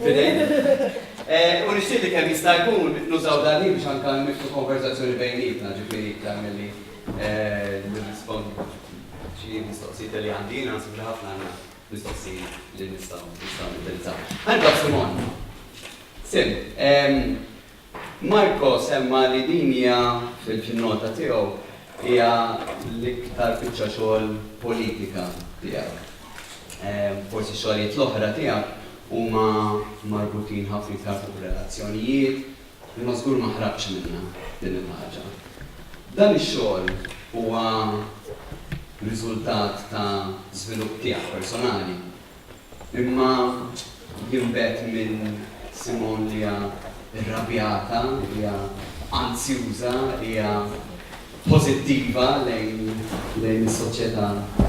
Fidejn. U nixtieq li kemm jista' jkun nużaw dan il-ħin biex anke niftu konversazzjoni bejnietna, ġifieri iktar milli nirrispondu xi mistoqsijiet li għandi jiena naħseb li ħafna għandna mistoqsijiet li nistgħu nistgħu nindirizzaw. Ħanibda b'Simon. Sim, Marco semma li din hija, fin-nota tiegħu, hija l-iktar biċċa xogħol politika tiegħek. Forsi x-xogħlijiet l-oħra tiegħek huma marbutin ħafna iktar fuq relazzjonijiet, imma żgur ma ħrabtx minnha din il-ħaġa. Dan ix-xogħol huwa riżultat ta' żvilupp tiegħek personali, Imma jinbet minn Simone li hija rrabjata, li hija anzjuża, li hija pożittiva lejn is-soċjetà tagħna.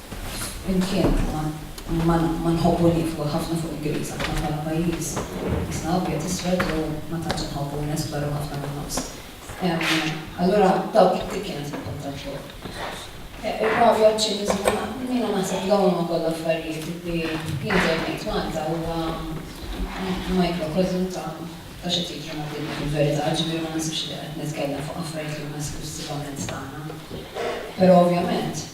Flimkien ma nħobbu nieqfu ħafna fuq il-Griż aħna bħala pajjiż. Isna abjad iswed jew ma tantx inħobbu nesploraw ħafna min-nofs. Allura dawk it-tik jiena se npunta l-fuq. Ir-rabja, ċ-ċiniżmu, jiena naħseb li dawn huma kollha affarijiet li jien dejjem ngħid Malta huwa microcosm ta' x'qed jiġri mad-dinja fil-verità, ġifieri ma naħsibx li qed nitkellem fuq affarijiet li huma esklussivament tagħna. Però ovvjament.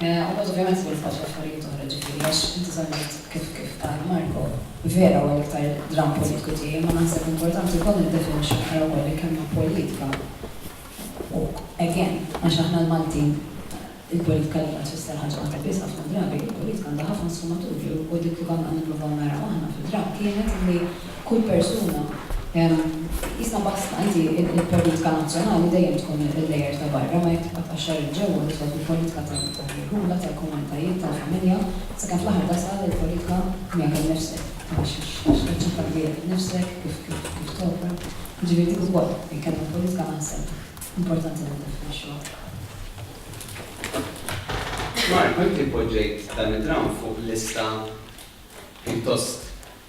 U mod ovvjament se nifqgħu xi affarijiet oħra ġifieri għax inti semmejt kif kif qal Marco, vera huwa l-iktar dramm politiku tiegħi imma naħseb importanti wkoll niddefinixxu aktar ukoll il-kelma politika u again għax aħna l-Maltin il-politika għalina tfisser ħaġa waħda biss ħafna drabi, il-politika għandha ħafna sfumaturi u dik li konna qed nippruvaw naraw aħna fid-dramm kienet li Kull persuna, qisna basta, inti il-politika nazzjonali dejjem tkun il-layer ta' barra, ma jekk tibqa' tqaxxar 'il ġewwa tidħol fil-politika tal-irħula, tal-komunitajiet, tal-familja, sakemm fl-aħħar tasal il-politika miegħek innifsek, għax qed txaħħad lilek innifsek kif kif topra, jiġifieri dik ukoll il-kelma politika naħseb importanti li niddefinixxuha. Marco, inti poġġejt dan id-dramm fuq lista pjuttost.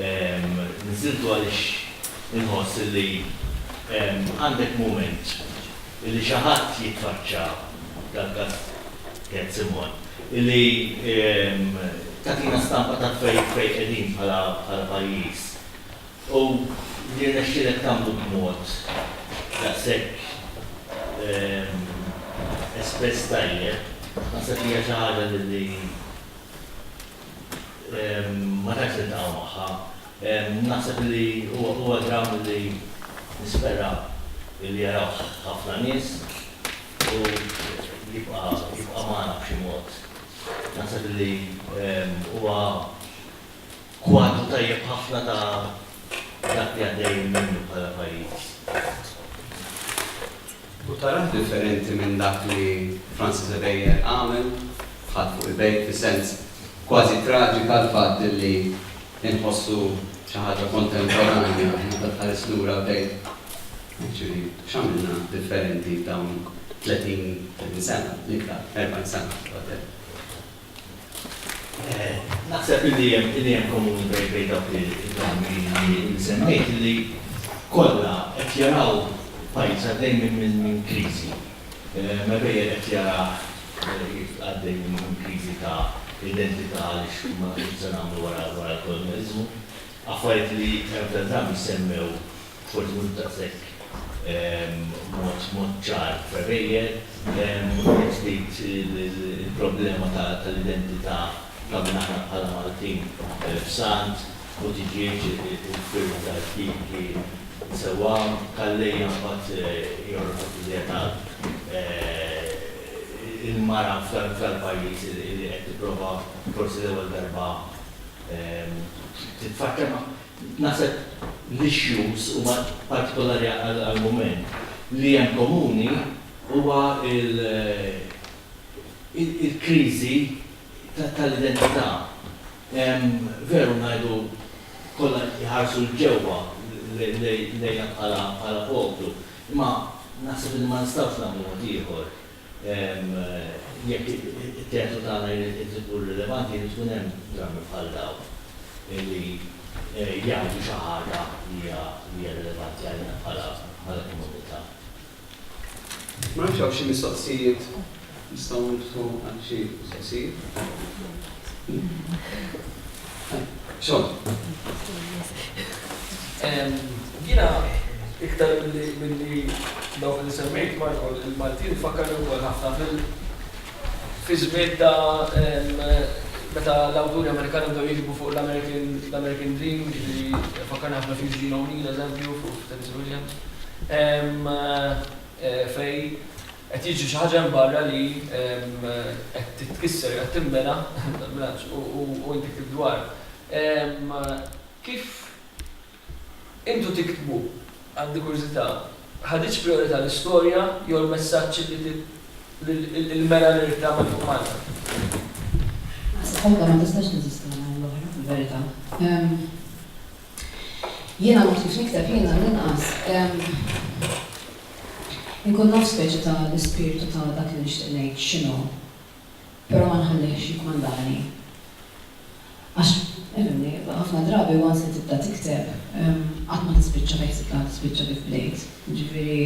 Niżżiltu għaliex inħoss illi għandek mument illi xi ħadd jitfaċċa, dal-każ Cat Simon, illi tagħtina stampa ta' fejn qegħdin bħala pajjiż. U li rnexxielek tagħmlu b'mod daqshekk espress tajjeb, naħseb li hija xi ħaġa li Ma tantx niltaqgħu magħha. Naħseb li huwa dramm li nispera li jarawh ħafna nies u jibqa' magħna b'xi mod. Naħseb li huwa kwadru tajjeb ħafna ta' dak li għaddejjin minnu bħala pajjiż. U tarah differenti minn dak li Francis Ebejer għamel, ħadd fuq il-bejk, fis-sens kważi traġik għall-fatt li nħossu xi ħaġa kontemporanja meta tħares lura u tgħid, actually, x'għamilna differenti f'dawn 30, 30 sena, l-iktar, 40 sena, whatever. Naħseb li hemm komuni bejn dawk il-kelmiet li semmejt li kollha qed jaraw pajjiż għaddej minn kriżi. Mebegħ qed jarah għaddej minn kriżi ta' identità għaliex ma nafux x'se nagħmlu wara l-kolonjaliżmu. Affarijiet li hemm ta' drabi jsemmew Forsi mhux daqshekk mod ċar prebejjel. Wieħed ftit il-problema tal-identità ta' min aħna bħala Maltin f'Sant, Buttigieg, il-firda tal-ftieki sewwa, Calleja mbagħad jorqod iżjed għal il-mara f'dal-pajjiż li qed tipprova forsi l-ewwel darba titfaċċa ma'. Naħseb l-issues huma partikolari għall-mument. Li hemm komuni huwa l-kriżi tal-identità. Veru ngħidu kollha jħarsu 'l ġewwa lejna bħala poplu, imma naħseb li ma nistgħux nagħmlu mod ieħor. Jekk it-teatru tagħna jrid ikun rilevanti jrid ikun hemm drammi bħal dawn li jgħidu xi ħaġa li hija rilevanti għalina bħala komunità. Ma nafx hawn xi mistoqsijiet nistgħu niftħu għal xi mistoqsijiet. Jiena iktar milli dawk li semmejt Marco, il-Maltin ifakkarni wkoll ħafna fi żmien ta' meta l-awturi Amerikani bdew jiktbu fuq l-American Dream, jiġifieri fakkarni ħafna f'Eugene O'Neill, eżempju, fuq Tennessee Williams. fejn qed jiġri xi ħaġa hemm barra li qed titkisser, qed tinbena, tal-bilanċ, u inti ktibt dwar. Kif intu tiktbu, għandi kurżità, ħaditx prijorità l-istorja jew l-messaġġ li l-mera li ridt tagħmel fuq Malta? Waħda ma tistax teżisti mingħajr l-oħra, fil-verità. Jiena ma fhimtx nikteb, jien għall-inqas inkun naf speċi ta' l-ispirtu ta' dak li nixtieq ngħid x'inhu, però ma nħallihx jikkmandani. Għax, ifhimni, ħafna drabi once li tibda tikteb, qatt ma tispiċċa fejn ħsibt li ħa tispiċċa kif bdejt. Jiġifieri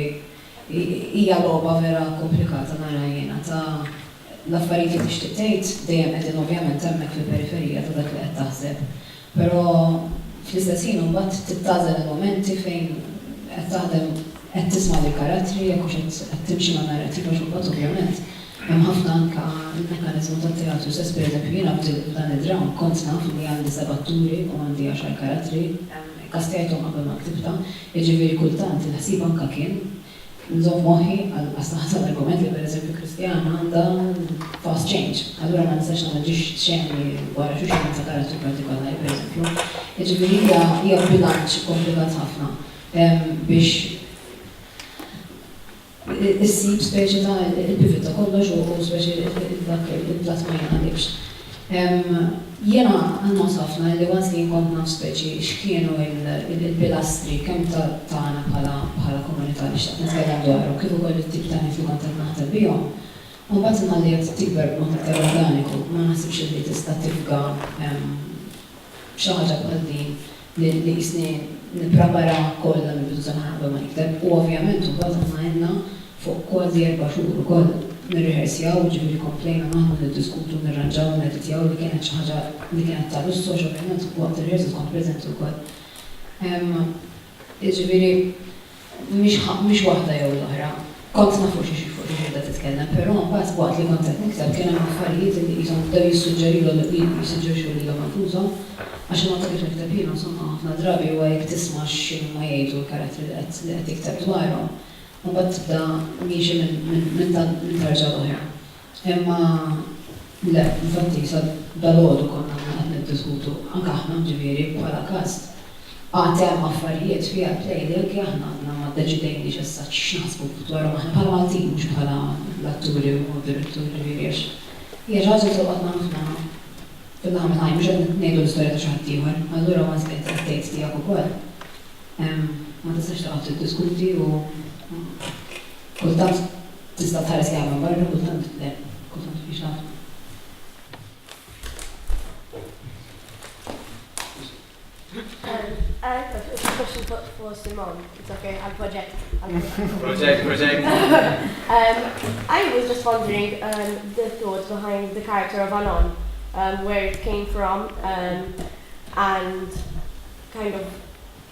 hija logħba vera komplikata nara jiena ta' l-affarijiet li tixtieq tgħid dejjem qegħdin ovvjament hemmhekk fil-periferija ta' dak li qed taħseb. Però fl-istess ħin imbagħad trid tagħżel il-mumenti fejn qed taħdem, qed tisma' lill-karattri jekk hux qed qed timxi man-narrattiva għax imbagħad ovvjament hemm ħafna anke l-mekkaniżmu tat-teatru stess. Pereżempju jiena f'dil f'dan id-dramm kont naf li għandi seba' atturi u għandi għaxar karattri, ikkastjajthom qabel ma ktibtha, jiġifieri kultant il-ħsieb anke kien, Nżomm moħħi għal qasnaħa ta' l-argument li pereżempju Kristjana għandha fast change. Allura ma nistax nagħmel ġiex xeni wara xulxin minn ta' karattru partikolari, pereżempju. Jiġifieri hija hija bilanċ ikkomplikat ħafna biex issib speċi ta' il-pivot ta' kollox u speċi dak il-platt ma jingħalibx. Jiena nħoss ħafna illi once li nkun naf speċi x'kienu l-pilastri kemm tagħna bħala komunità li xtaqt nitkellem dwarhom kif ukoll it-tip ta' nies li kont qed naħdem bihom, imbagħad imma li qed tikber b'mod iktar organiku ma naħsibx illi tista' tifga xi ħaġa bħal din li qisni nippreparaha kollha mill-bidu sa naħa qabel ma nikteb u ovvjament imbagħad aħna għedna fuq kważi erba' xhur ukoll nirriħersjaw, jiġifieri komplejna naħdmu niddiskutu nirranġaw nirreditjaw li kienet xi ħaġa li kienet ta' lussu għax ovvjament waqt ir-riħersals kont preżenti wkoll. Jiġifieri mhix waħda jew l-oħra. Kont naf fuq xi qiegħda titkellem, però mbagħad waqt li kont qed nikteb kien hemm affarijiet li qishom bdew jissuġġerilhom jissuġġerixxu lilhom infushom għax il-mod ta' kif nikteb jien insomma ħafna drabi huwa jekk tisma' x'inhuma jgħidu l-karattri li qed tikteb dwarhom imbagħad tibda miexi minn tarġa l-oħra. Imma le, infatti sa dalgħodu konna aħna qed niddiskutu, anke aħna ġifieri bħala kast, għad hemm affarijiet fair play li anke aħna għadna ma ddeċidejniex issa x'naħsbu dwarhom aħna bħala Maltin mhux bħala l-atturi u d-direttur ġifieri għax hija xi ħaġa li tolqotna ħafna fil-laħam il-ħaj mhux qed ngħidu l-istorja ta' xi ħadd ieħor, allura once qed tgħid tiegħek ukoll ma tistax taqgħod tiddiskuti u Kultant tista' tħares lejha minn barra, kultant le, kultant mhix taf. Project, project. um, I was just wondering um, the thought behind the character of Anon, um, where it came from, um, and kind of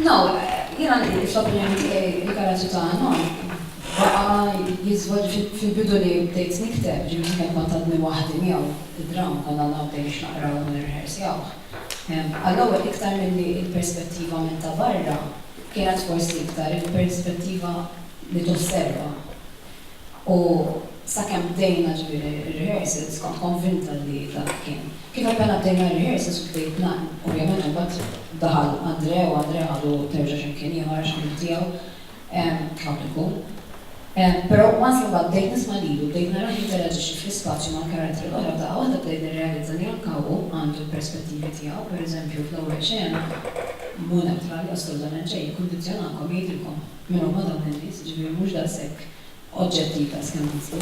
No, jena li fl-opinjoni tiegħi il-karaġġu ta' Anon baqa' jiżvod fil-bidu li bdejt nikteb, ġifieri kemm kont għadni waħdi miegħu id-dramm konna naqbdu biex naqraw u nirrehersjawh. Għall-ewwel iktar milli l-perspettiva minn ta' barra kienet forsi iktar il-perspettiva li tosserva. U sakemm bdejna, ġifieri, ir-rehearsals, kont konvinta li dak kien. Kif appena bdejna r-rehearsals u bdejt ngħann, ovvjament imbagħad daħal Andrè u Andrè ħadu terġa' xi mkien ieħor għax kien ħtiegħu tlabt ikun. Però once li mbagħad bdejt nisma' lilu, bdejt narah jinteraġixxi fl-ispazju mal-karattri l-oħra, f'daqqa waħda bdejt nirrealizza li anke hu għandu l-perspettivi tiegħu, pereżempju fl-ewwel xena, mhu neutrali assolutament xejn, jikkundizzjonakom, jgħidilkom. minnhom ma' dawn in-nies, jiġifieri mhux daqshekk oġġetti ta' skandizzi.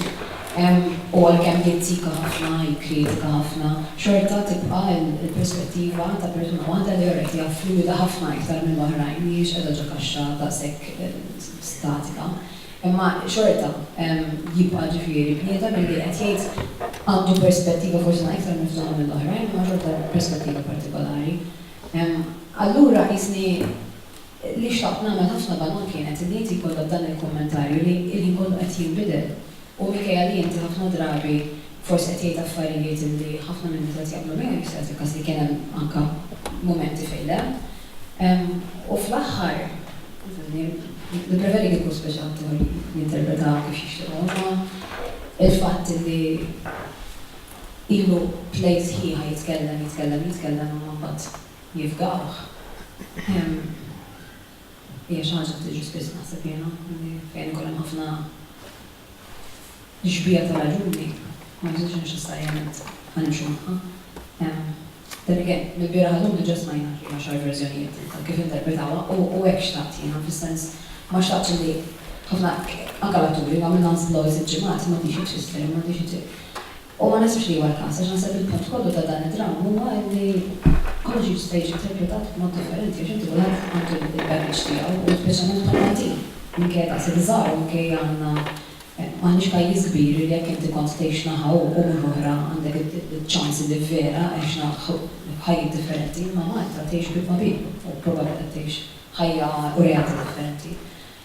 U għalkemm jizzika ħafna, jikkritika ħafna, xorta tibqa' l-perspettiva ta' persuna waħda li alright hija fluwida ħafna iktar minn l-oħrajn, mhijiex qiegħda ġo kaxxa daqshekk statika. Imma xorta jibqa' ġifieri bniedem li qed jgħid għandu perspettiva forsi ma' iktar miftuħa mill-oħrajn imma xorta perspettiva partikolari. Allura qisni. Li xtaqt nagħmel ħafna ballun kienet li inti jkollok dan il-kummentarju li l-ħin kollu qed jinbidel u minkejja li inti ħafna drabi forsi qed tgħid affarijiet li ħafna min-nies qed jaqblu miegħu, jista' jagħti l-każ li kien hemm anke mumenti fejn le, u fl-aħħar, insomma, nippreferi kieku kull speċatur jinterpreta kif jixtieq hu, imma l-fatt li ilu play sħiħa jitkellem, jitkellem, jitkellem imma mbagħad. jifdawh. Hija xi ħaġa li tiġri spiss naħseb jiena, li fejn ikun hemm ħafna xbieha ta' raġuni, ma nħossux li neċessarjament ħa nimxu magħha. Then again, mill-bieraħ għal llum diġà smajna xi għaxar verżjonijiet ta' kif interpretawha u hekk xtaqt jiena, fis-sens ma xtaqtx li ħafna, anke l-atturi, u għamilna nistgħu sitt ġimgħat, m'għadhiex hi tfisser, m'għadhiex hi U ma naħsibx li huwa l-każ, għax naħseb il-punt kollu ta' dan id-dramm huwa li kollox jista' jiġi interpretat b'mod differenti għax inti kulħadd għandu l-baggage tiegħu u speċjalment bħal-Maltin, minkejja daqshekk żgħar u minkejja għandna m'aħniex pajjiż kbir li jekk inti kont tgħix naħa u mhux oħra għandek iċ-ċans li vera għexna ħajjiet differenti, imma Malta tgħix bit-tmagħbib u probabli qed tgħix ħajja u realtà differenti.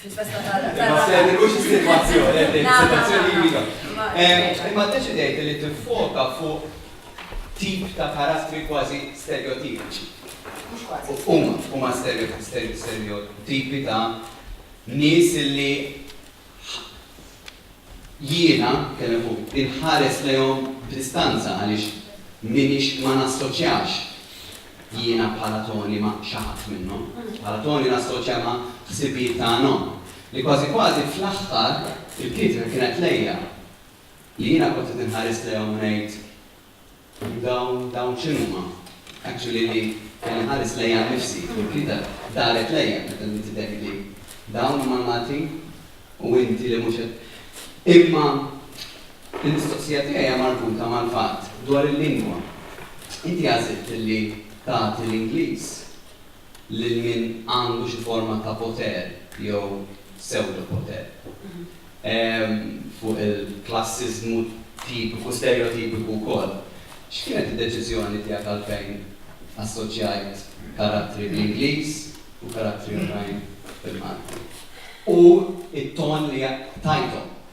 fil-festa ta' Rabbi. Imma se mhux is-sitwazzjoni, qed ngħid is-sitwazzjoni hija dik. Imma ddeċidejt li tiffoka fuq tip ta' karattri kważi sterjotipiċi. Mhux kważi. Huma, huma sterjotipi ta' nies li Jiena, tkellem fuq, inħares lejhom b'distanza għaliex m'iniex, ma nassoċjax jiena bħala Toni ma' xi ħadd minnhom. Bħala Toni nassoċja ma' ħsibijiet ta' għanhom. Li kważi kważi fl-aħħar il-kritika kienet lejja. Li jiena kont qed inħares lejhom u ngħid, Dawn, dawn x'inhuma? Actually li kelli nħares lejja nnifsi fil-bqita daret lejja meta bdiet tidher li dawn huma l-Maltin u inti li mhux qed. Imma l-mistoqsija tiegħi hija marbuta mal-fatt dwar il-lingwa. Inti għażilt li tagħti l-Ingliż. lil min għandu xi forma ta' poter jew psewdopoter fuq il-klassiżmu tipiku, stereotipiku wkoll. X'kienet id-deċiżjoni tiegħek għalfejn assoċjajt karattri bl-Ingliż u karattri oħrajn bil-Malti? U t-ton li tajthom?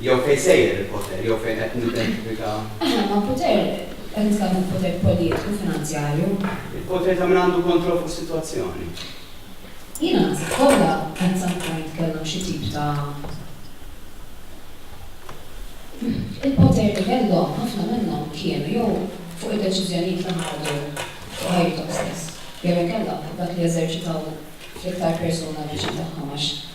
jew fejn sejjer il-poter jew fejn qed nidentifika. Aħna għandna poter, qed nitkellmu fuq poter politiku, finanzjarju. Il-poter ta' min għandu kontroll fuq is-sitwazzjoni. Jiena naħseb kollha at some point kellhom xi tip ta' Il-poter li kellhom ħafna minnhom kienu jew fuq id-deċiżjonijiet li ħadu fuq ħajjithom stess jew inkella fuq dak li eżerċitaw fl-iktar persuna viċin tagħhom għax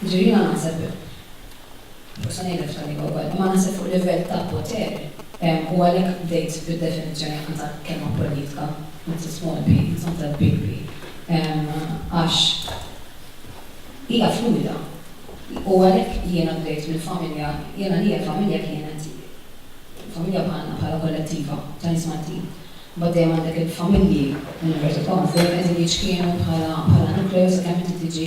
Jiġifieri jiena naħseb, forsi ngħidha f'tal lingwa wkoll, imma naħseb fuq livell ta' poter, u għalhekk bdejt bid-definizzjoni anke ta' kelma politika, not the small p, it's not the big p, għax hija fluwida. U għalhekk jiena bdejt mill-familja, jiena għalija familja kienet familja bħalna, bħala kollettiva ta' nies Maltin. Imbagħad dejjem għandek il-familji, inverted commas, dejjem qegħdin jiċkienu bħala nucleus sakemm inti tiġi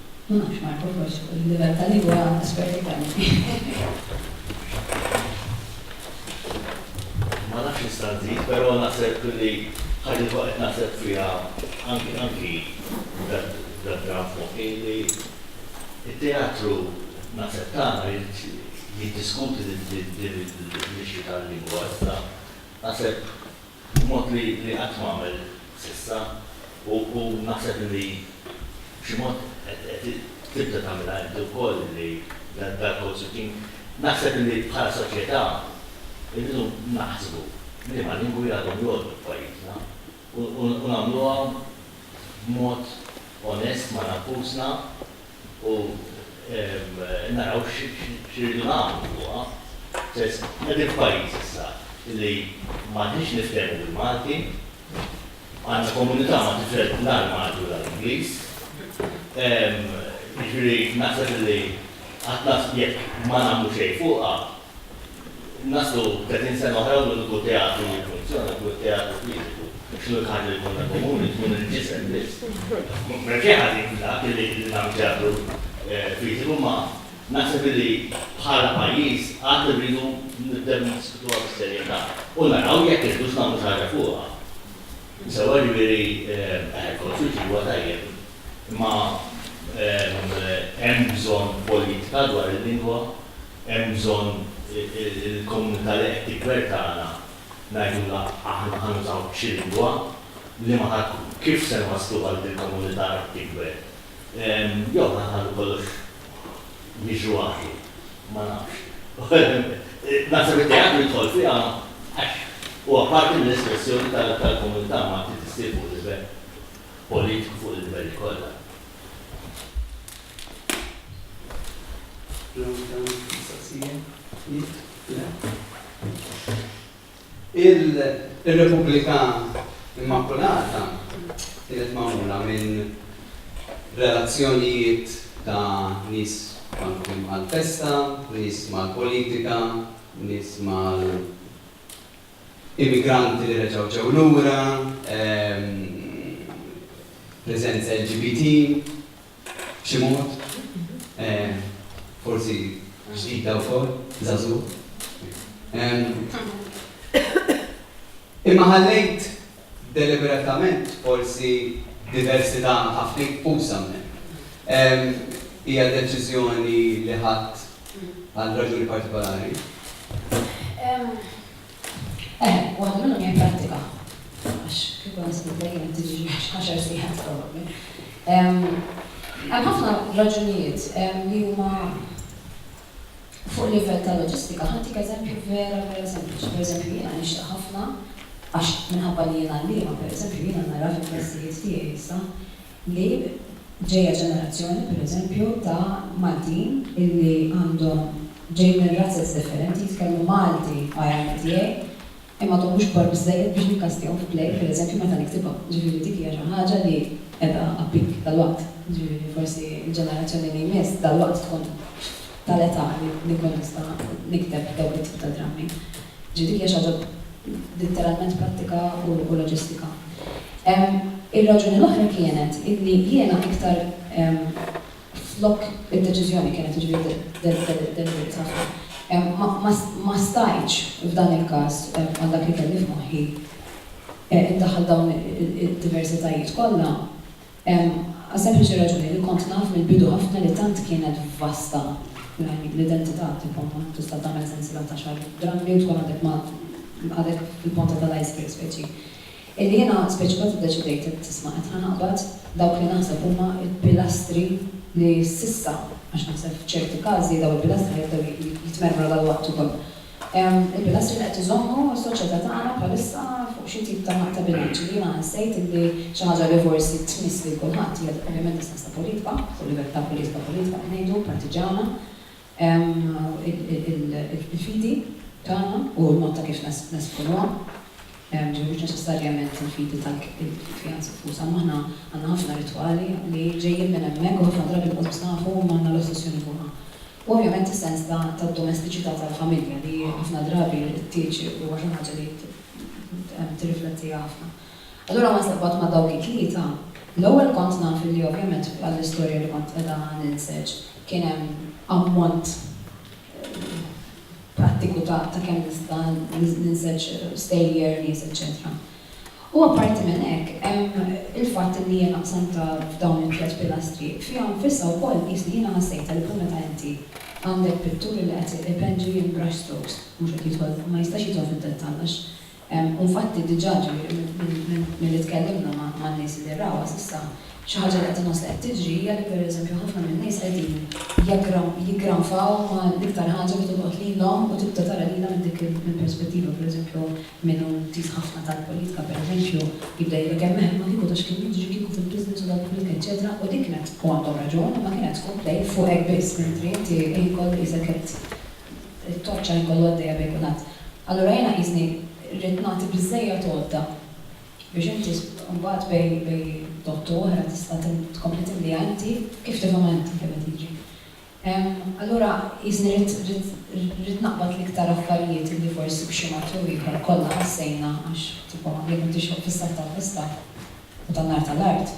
Ma nafx Marco forsi fuq il-livell ta' lingwa esperti Ma nafx nista' nżid, però naħseb li ħaġa li qed naħseb fiha anki anki dad-dram f'moħħi li t-teatru naħseb tagħna jiddiskuti din l-issue tal-lingwa iżda naħseb b'mod li qatt ma għamel s'issa u naħseb li b'xi mod qed tibda tagħmilha inti wkoll li dal-code switching, naħseb li bħala soċjetà rridu naħsbu liema lingwi għadhom jgħoddu f'pajjiżna u nagħmluha b'mod onest ma' nfusna. u naraw x'iridu nagħmlu fuqha. Sens, qegħdin f'pajjiż issa li m'għadniex niftehmu bil-Malti, għandna komunità ma' tifel la l-Malti u la l-Ingliż. Jiġifieri naħseb li qatt jekk ma nagħmlu xejn fuqha, Naslu 30 sena oħra u l-uniku teatru li jiffunzjona jkun it-teatru fiżiku. X'inhu l-ħaġa li jkollna komuni? Tkun il-ġisem biss. M'hemm xejn ħażin f'dak li nagħmlu teatru fiżiku imma naħseb li bħala pajjiż għad irridu nibdew niddiskutuha bis-serjetà u naraw jekk irridux nagħmlu xi ħaġa fuqha. Sewwa jiġifieri eh kollox jiġri huwa tajjeb imma hemm bżonn politika dwar il-lingwa. Hemm bżonn il-komunità li qed tikber tagħna ngħidulha aħna ħa nużaw xi lingwa, liema ħa tkun, kif se nwasslu għal din il-komunità li qed tikber? Jew ħa nħallu kollox jiġru għaqli? Ma nafx. Naħseb it-teatru jidħol fiha għax huwa parti mill-espressjoni tal-komunità Malti li ssir fuq livell politiku, fuq il-livelli kollha. Il-Repubblika Immakulata kienet magħmula minn relazzjonijiet ta' nies marbutin mal-festa, nies mal-politika, nies mal immigranti li reġgħu ġew lura, preżenza LGBT, b'xi mod, forsi ġdida wkoll, żagħżugħ. Imma ħallejt deliberatament forsi diversità ħafna inkbuża hemmhekk. Hija deċiżjoni li ħadt għal raġuni partikolari? Eħe, u għad minnhom jipprattika. Għax kieku naħsbu dejjem tiġi għaxar siegħat probabbli. Hemm ħafna raġunijiet li huma fuq livell ta' loġistika. Ħantik eżempju vera vera sempliċi. Pereżempju jiena nixtieq ħafna, għax minħabba li jien għalliema pereżempju, jiena nara fil-klassijiet tiegħi issa li ġejja ġenerazzjoni, per eżempju, ta' Maltin illi għandhom ġejjin minn razez differenti, jitkellmu Malti għajati tiegħi, imma għadhom mhux kbar biżżejjed biex nikkastjahom f'play, per eżempju, meta niktibha. Jiġifieri dik hija xi ħaġa li qiegħda appik dalwaqt. Jiġifieri forsi l-ġenerazzjoni li jmiss dalwaqt tkun tal-età li nkun nista' nikteb dawk it-tip ta' drammi. Ġifieri din hija xi ħaġa litteralment prattika u loġistika. Ir-raġuni l-oħra kienet illi jiena iktar flok id-deċiżjoni kienet jiġifieri deliberate ħafna, ma stajtx f'dan il-każ għal dak li kelli f'moħħi indaħħal dawn id-diversitajiet kollha Għas-sempliċi raġuni li kont naf mill-bidu ħafna li tant kienet vasta l-identità tibqa' ma tista' tagħmel sensiela ta' xahar drammi u tkun għadek ma għadek fil-ponta tal-iceberg speċi. Illi jiena speċi kważi ddeċidejt qed tisma' qed ħa naqbad dawk li naħseb huma l-pilastri li s'issa għax naħseb f'ċerti każi dawn il-pilastri ħa jibdew jitmermru dalwaqt ukoll. Il-pilastri li qed iżommu s-soċjetà tagħna bħalissa fuq xi tip ta' ta' bilanċ li jiena ħassejt illi xi ħaġa li forsi tmiss lil kulħadd hija ovvjament distanza politika, fuq livell ta' politika politika qed ngħidu, partiġġana, il-fidi tagħna u l-mod ta' kif nesprimuha, ġifieri mhux neċessarjament il-fidi tal kjans infushom imma aħna għandna ħafna ritwali li ġejjin minn hemmhekk u ħafna drabi nqogħdu nsaħħu imma għandna l-ossessjoni fuqha. U ovvjament is-sens ta' tad-domestiċità tal-familja li ħafna drabi tieġi huwa xi ħaġa li tirriflettiha ħafna. Allura ma nistax qatt ma' dawk it-tlieta. L-ewwel kont naf illi ovvjament għall-istorja li kont qiegħda ninseġ kien hemm ammont prattiku ta' kemm nista' ninseġ stejjer, nies eċċetera. U apparti minn hekk, hemm il-fatt illi jiena qsamtha f'dawn it-tliet pilastri. Fiha nfissha wkoll qisni jiena ħassejtha li bħal meta inti għandek pittur illi qed ipenġi in brush strokes, mhux qed jidħol, ma jistax jidħol fid-dettall għax hemm, u nfatti diġà, ġifieri milli tkellimna man-nies illi rawha s'issa, xi ħaġa li qed inħoss li qed tiġri hija li pereżempju ħafna min-nies qegħdin jiggranfaw ma' l-iktar ħaġa li tolqot lilhom u tibda tara lilha minn dik il-perspettiva, pereżempju Min hu intiż ħafna tal-politika, pereżempju, jibda jgħidlek hemm hemm, ma kieku ta' x'kien jiġri kieku fil-business u tal-politika eċċetera, u dik kienet, u għandhom raġun, imma kienet tkun play fuq hekk biss, mentri inti l-ħin kollu qisek qed it-torċa l-ħin kollu għaddejja bejn kulħadd. Allura jiena qisni rrid nagħti biżżejjed għodda biex inti mbagħad bejn bejn dott u oħra tista' tkompli timliha inti kif tifhimha inti kemm qed jiġri. Allura qisni rrid naqbad l-iktar affarijiet illi forsi b'xi mod jew ieħor kollha ħassejna għax tipo jekk qed tixrob fis-sajf taf fis-sajf u tan-nar tal-art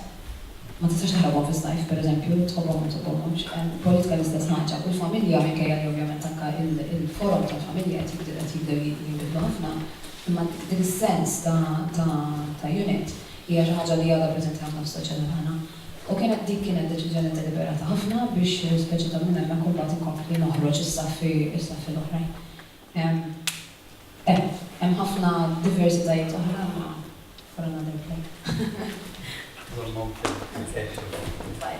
ma tistax taħrabhom fis-sajf pereżempju tħobbhom jew ma tħobbhomx. Politika l-istess ħaġa u l-familja minkejja li ovvjament anke il-forom tal-familja qed jibdew qed jibdew jinbidlu ħafna imma dik is-sens ta' ta' ta' unit hija xi ħaġa li għadha preżenti ħafna fis-soċjetà tagħna. U kienet dik kienet deċiżjoni deliberata ħafna biex speċi ta' minn hemmhekk imbagħad inkompli noħroġ is-saffi is-saffi l-oħrajn. Hemm hemm ħafna diversitajiet oħra imma for another day. One more thing. Okay. Bye.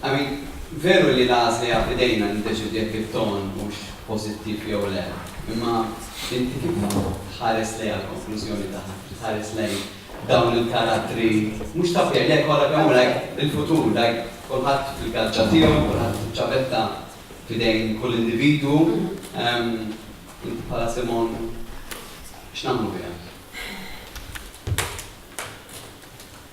I mean, veru li l-għażla hija f'idejna niddeċiedu jekk it-ton hux pożittiv jew le, imma inti kif tħares lejha l-konklużjoni tagħha, kif tħares lejn dawn il-karattri mhux ta' pjè, le kollha kemm hu like il-futur, like kulħadd fil-gaġġa tiegħu, kulħadd fiċ-ċavetta f'idejn kull individwu, inti bħala Simon x'nagħmlu biha?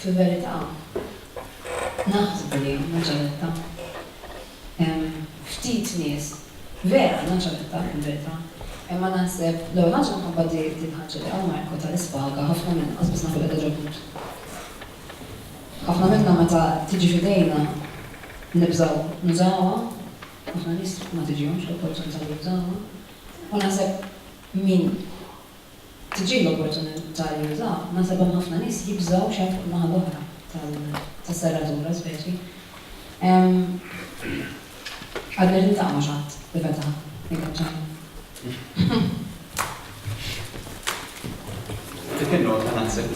Fil-verità, naħsbu li hawn Naċaretta hemm ftit nies vera hawn Naċaretta, fil-verità. Imma naħseb li hawn għax minħabba di l-ħaġa li hawn Marko ta l-ispaga, ħafna minna lanqas biss nafu li qiegħda ġo l-ħut. Ħafna minna meta tiġi f'idejna nibżgħu nużawha, ħafna nies ma tiġihomx l-opportunità li jużawha. U naħseb min tiġi l-opportunità li juża, naħseb hemm ħafna nies jibżgħu x'għad fuq in-naħa l-oħra tas-serratura, speċi. Għadni qed niltaqa' ma' x'għadd li fetaħ il-kaċċara. Dik in-nota naħseb